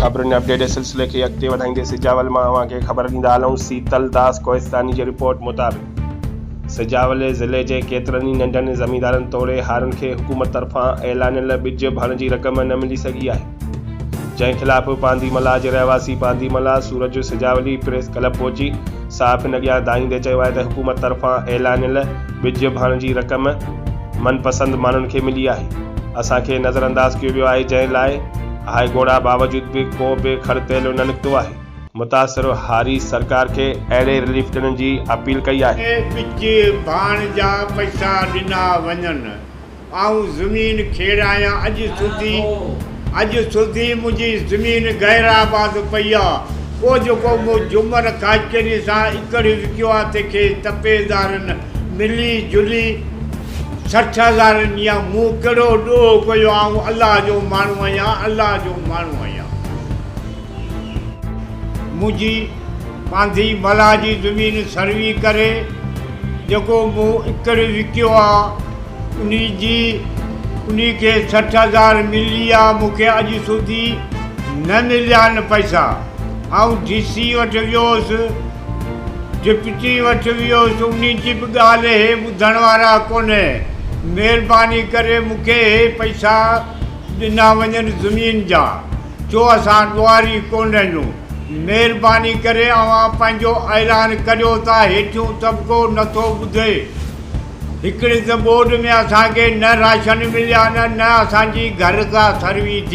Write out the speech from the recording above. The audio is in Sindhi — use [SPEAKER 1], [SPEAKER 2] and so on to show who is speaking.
[SPEAKER 1] خبرن جي اپڊيٽ جي سلسلي کي اڳتي وڌائيندي سجاول مان اوهان کي خبر ڏيندا هلون سيتل داس ڪوهستاني جي رپورٽ مطابق سجاول ضلعي جي ڪيترن ئي ننڍن زميندارن توڙي هارن کي حڪومت طرفان اعلانيل ٻج ڀرڻ جي رقم نه ملي سگهي آهي جنهن خلاف پاندي ملاح جي رهواسي پاندي ملاح سورج سجاولي پريس ڪلب پهچي صحافين اڳيان دانهيندي چيو آهي ته حڪومت طرفان اعلانيل ٻج ڀاڻ جي رقم من پسند ماڻهن کي ملي آهي اسان کي نظرانداز ڪيو ويو آهي جنهن لاء هاء ڳوڙها باوجود به ڪو به کڙ تيلو نه نڪتو آهي. متاثر هاريس سرڪار کي اهڙي رليف ڏيڻ جي اپيل ڪئي آهي. ٻج
[SPEAKER 2] ڀاڻ جا پئسا ڏنا وڃن. آئون زمين کيڙ آهيان اڄ سڌي اڄ سڌي منهنجي زمين غير آباد پئي آ پوء جيڪو مون جمر خاڪيني سان اڪڙي وڪيو آ تنهنکي تپيدارن ملي جلي سٺ هزار نيا مون ڪهڙو ڏوهه ڪيو آئون الله جو ماڻهو آهيان الله جو ماڻهو آهيان منهنجي پانڌي ملاح جي زمين سروي ڪري جيڪو مون اڪڙي وڪيو آ انهي جي انهي کي سٺ هزار مليا مون کي اڄ سوڌي نه مليان پئسا آئون ڊي سي وٽ ويوس ڊپٽي وٽ ويوس انهي جي به ڳالهه هي ٻڌڻ وارا ڪونهي مهرباني ڪري مون کي هي پئسا ڏنا وڃن زمين جا ڇو اسان ڏوهاري ڪونه رهيون مهرباني ڪري اوهان پنهنجو اعلان ڪريو ته هيٺيون طبقو نٿو ٻڌي هڪڙي ته ٻوڏ ۾ اسان کي نه راشن مليا آهن نه اسان جي گهر ڪا سروي ٿي.